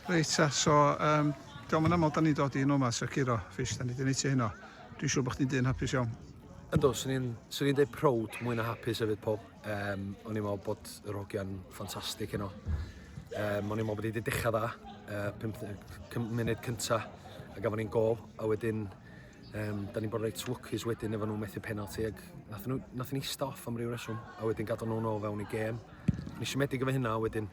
Reit ta, so um, diolch yn aml da ni'n dod i hyn o'ma, Sir Ciro, Fish, da ni wedi neud ti hyn o. Dwi'n siŵr bod chdi'n dyn hapus iawn. Ynddo, swn i'n swn i'n deud proud mwy na hapus hefyd, Paul. Um, o'n i'n meddwl bod yr hogiau'n ffantastig heno. Um, o'n i'n meddwl bod wedi dechrau dda, uh, 50 munud cyntaf, a gafon ni'n gol, a wedyn Um, da ni'n bod reit lwcus wedyn efo nhw methu penalty ac nath nhw, nath nhw eista off am ryw reswm a wedyn gadael nhw'n ôl fewn i gêm. Ni siomedig efo hynna wedyn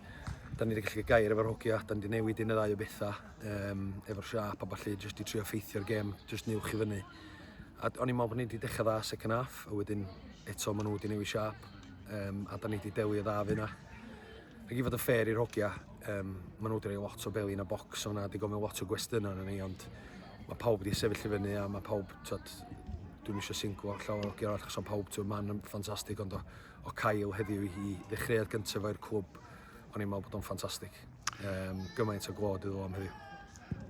da ni wedi gallu gair efo'r hogia, da ni wedi newid un y ddau o bethau um, efo'r siap a falle jyst i trio ffeithio'r gêm, jyst niwch i fyny. A o'n i'n meddwl bod ni wedi dechrau dda second half a wedyn eto maen nhw wedi newid siap um, a da ni wedi delio dda fe yna. Ac i fod yn fair i'r hogia, um, maen nhw wedi rhoi lot o belin a bocs o'na, wedi gofyn lot o gwestiynau yna ni, ond mae pawb wedi sefyll i fyny a mae pawb, tyd, dwi'n eisiau singlo allan o'r hogia arall, achos o'n pawb, tyd, man yn ffantastig, ond o, o cael heddiw i ddechreuad gyntaf o'r clwb, o'n i'n meddwl bod o'n ffantastig. Um, gymaint o glod iddo am heddiw.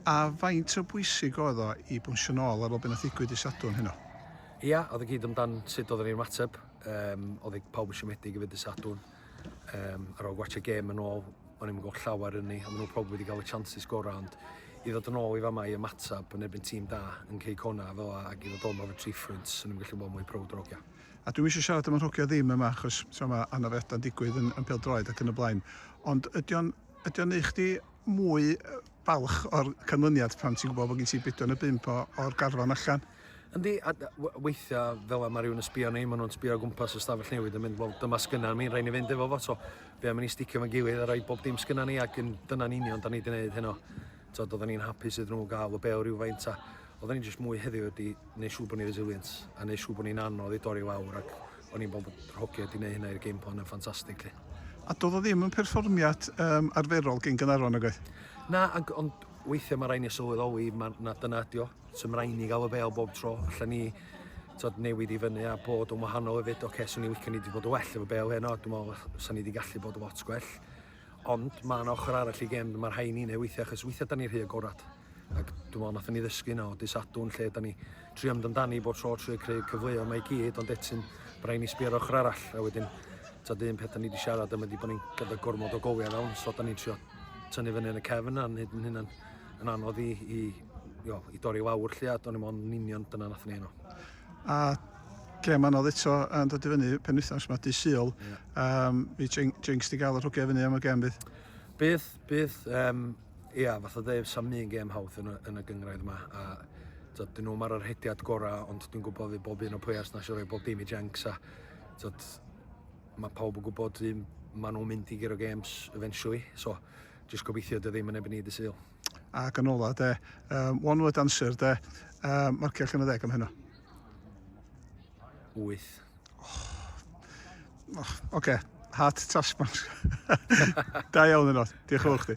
A faint o bwysig oedd o i bwysio nôl ar ôl beth nath ddigwydd i Sadwrn heno? Ia, oedd y gyd amdan sut oedd ni'n mateb. Um, oedd pawb yn siomedig i fyd y Sadwrn. Um, ar ôl gwachio gêm yn ôl, o'n i'n gweld llawer yn ni, a maen nhw pob wedi cael y chances gorau, ond i ddod yn ôl i fama i ymateb yn erbyn tîm da yn cei cona fel a, ac i ddod o'n efo tri ffrynt, o'n i'n gallu bod mwy prowd o'r ogia. A dwi'n eisiau siarad am yr hogia ddim yma, achos so, mae anafiadau'n digwydd yn, yn droed ac yn y blaen. Ond ydy o'n, ydy o'n eich di mwy balch o'r canlyniad pan ti'n gwybod bod gen ti bedwar neu bimp o'r garfan allan? Yndi, a weithiau fel yma rhywun yn sbio ni, maen nhw'n sbio o gwmpas y stafell newid yn mynd, wel dyma sgynna ni, rhaid ni fynd efo fo, so fe am i ni sticio fo'n gilydd a rhoi bob dim sgynna ni ac yn dyna'n union da ni wedi gwneud heno. So, doedden ni'n hapus iddyn nhw gael y be o rhywfaint a oedden ni jyst mwy heddiw wedi gwneud siŵr bod ni'n resilient a gwneud siŵr bod ni'n anodd i dorri lawr ac o'n i'n bod rhogiau wedi gwneud hynna i'r game plan yn ffantastig. A doedd o ddim yn perfformiad um, arferol gen Gynarfon, nag oedd? Na, ond weithiau mae rhaid ni sylweddoli, mae, na dyna ydi o. So mae'n rhaid ni gael y bel bob tro, allan ni tod, newid i fyny a bod yn wahanol hefyd. Oce, okay, swn i'n licio ni wedi bod yn well efo bel heno, dwi'n meddwl swn ni wedi gallu bod yn lot gwell. Ond mae yna ochr arall i gem, mae rhai ni'n ei weithiau, achos weithiau da ni rhy agorad. Ac dwi'n meddwl nath ni ddysgu yna o disadwn lle da ni tri am amdani bob tro trwy creu cyfleoedd mae i gyd, ond etyn, mae rhaid ni sbio ar ochr arall. A wedyn, tod un peth da ni wedi siarad yma wedi bod ni'n gyda gormod o goliau fewn, so da ni'n trio tynnu fyny yn y cefn a'n hyd yn hynna'n yn anodd i, i jo, i dorri lawr lle a do'n i mo'n union dyna nath ni enw. A lle mae'n oedd eto yn dod i fyny pen wythnos mae dy syl, yeah. um, i jinx di gael yr hwgau fyny am y gem bydd? Bydd, bydd, um, ia, yeah, fath o ddeif sam un gem hawdd yn y, yn y gyngraedd yma, a tyd, dyn nhw mae'r rhediad gorau, ond dwi'n gwybod fi bob un o pwyers na siarad bob dim i jinx, a tyd, mae pawb yn gwybod un, maen nhw'n mynd i gyro games eventually, so jyst gobeithio dy ddim yn ebyn i dy syl. Ac yn ola de, um, one word answer de, um, marcio allan o ddeg am heno. 8. Oh. Oh, Oce, okay. heart task man. da iawn yno, diolch yn fawr chdi.